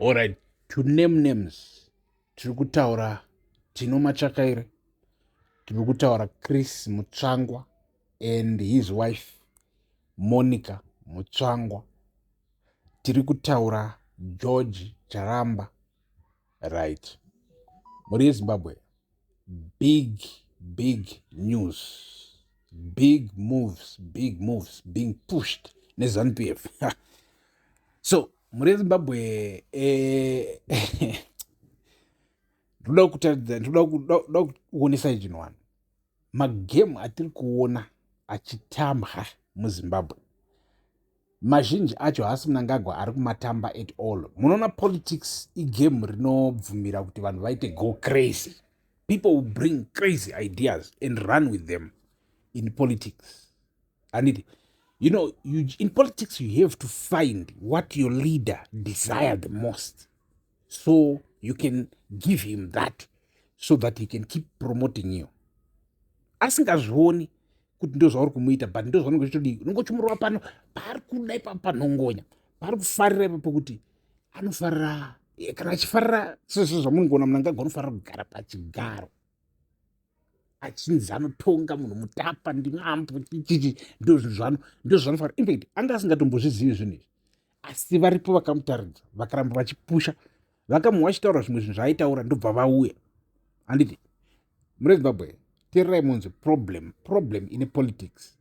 Alright, to name names tiri kutaura Tino Machakaire, tiri kutaura Chris Mutsvangwa and his wife Monica Mutsvangwa, tiri kutaura George Charamba. Right. Muri yeZimbabwe, big big news, big moves, big moves being pushed neZanu PF. so mhuri yezimbabwe ndoda kutaridza ndoda kuonesai chinhu wani magemu atiri kuona achitambwa muzimbabwe mazhinji acho haasi munangagwa ari kumatamba at all munoona politics igame rinobvumira kuti vanhu vaite go crazy people will bring crazy ideas and run with them in politics handiti you know you, in politics you have to find what your leader desire the most so you can give him that so that he can keep promoting you asingazvioni kuti ndo zvauri kumuita but ndo zvaunenge uchitodii unenge uchimurova pano paari kuda ipapo panhongonya paari kufarira ipapo kuti anofarira eh, kana achifarira sezvo zvamunongoona munangagwa anofarira kugara pachigaro achinzi anotonga munhu mutapa ndimambo chichichi ndozvizvano ndozvanofanira infact anga asingatombozvizivi zvinhu izvi asi varipo vakamutaridza vakaramba vachipusha vakamuwa achitaura zvimwe zvinhu zvaaitaura ndobva vauya handiti mune zimbabwe tererai munzi problem problem ine politics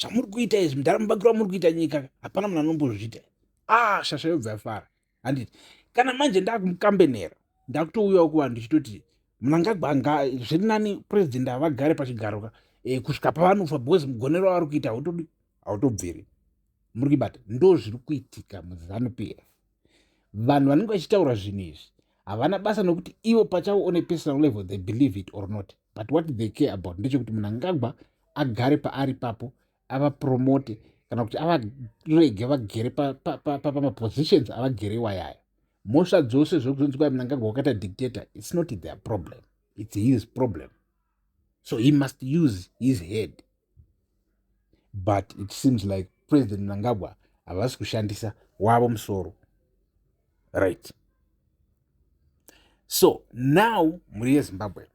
zvamuri kuita izvi mudhara mubakiro wamuri kuita nyika hapana munhu anombozviita ah shasha yobva yafara handiti kana manje ndakumukambenera ndakutouyawo kuvanhu ndichitoti munangagwa anga zviri nani purezidendi avagare pachigaroka e, eh, kusvika pavanofa because mugonero wavari kuita hautobviri muri kuibata ndo zviri kuitika muzanu pf vanhu vanenge vachitaura zvinhu izvi havana basa nokuti ivo pachavo one personal level they believe it or not but what they care about ndechekuti munangagwa agare paari papo avapromote kana kuti avarege vagere pamapositions avagere iwayayo mhosva dzose zvekuzonzi kwai munangagwa wakaita dictator its not their problem its his problem so he must use his head but it seems like president mnangagwa havasi kushandisa wavo musoro right so now mhuri yezimbabwe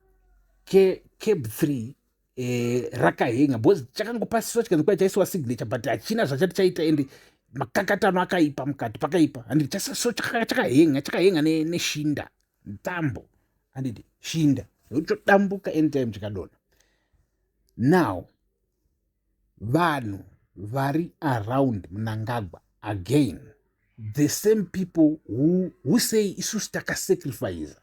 cab three eh, rakahenga because chakangopasiswa chikanzi kwai chaisiwa signature but hachina zvachati chaita ende makakatano akaipa mukati pakaipa and so chakahenga chakahenga neshinda tambo anditi shinda zvochodambuka anytime chikadona now vanhu vari around munangagwa again the same people who, who say isusu takasacrifice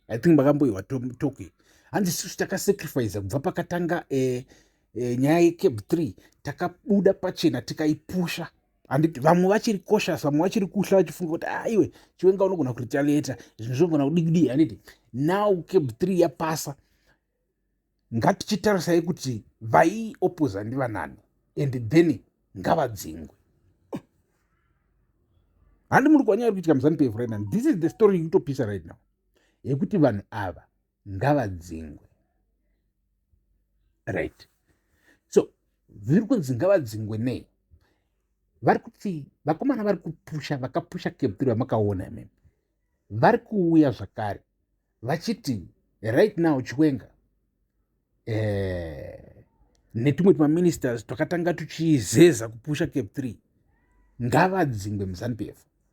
i think makamboiwa toki hanzi isusu takasacrifice kubva pakatanga eh, eh, nyaya yecape 3 takabuda pachena tikaipusha handiti vamwe vachiri koshas vamwe vachiri kuhla vachifunga kuti aiwe ah, chiwenga unogona kuretaliata zvinhu zvinogona kudikudii handiti now cab three yapasa ngatichitarisai kuti vaiopoza ndivanani and then ngavadzingwe handi muri kwanyaya iri kuitika muzanupf right now this is the story ikutopisa right now yekuti vanhu ava ngavadzingwe right so zviri kunzi ngavadzingwe nei vari kuti vakomana vari kupusha vakapusha keptiri vamakaona imimi vari kuuya zvakare vachiti right now chiwenga eh, netumwe tumaministers twakatanga tuchizeza kupusha cape three ngavadzingwe muzanup f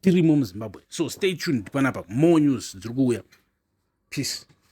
tirimo muzimbabwe so stay tuned panapa more news dziri kuuya peace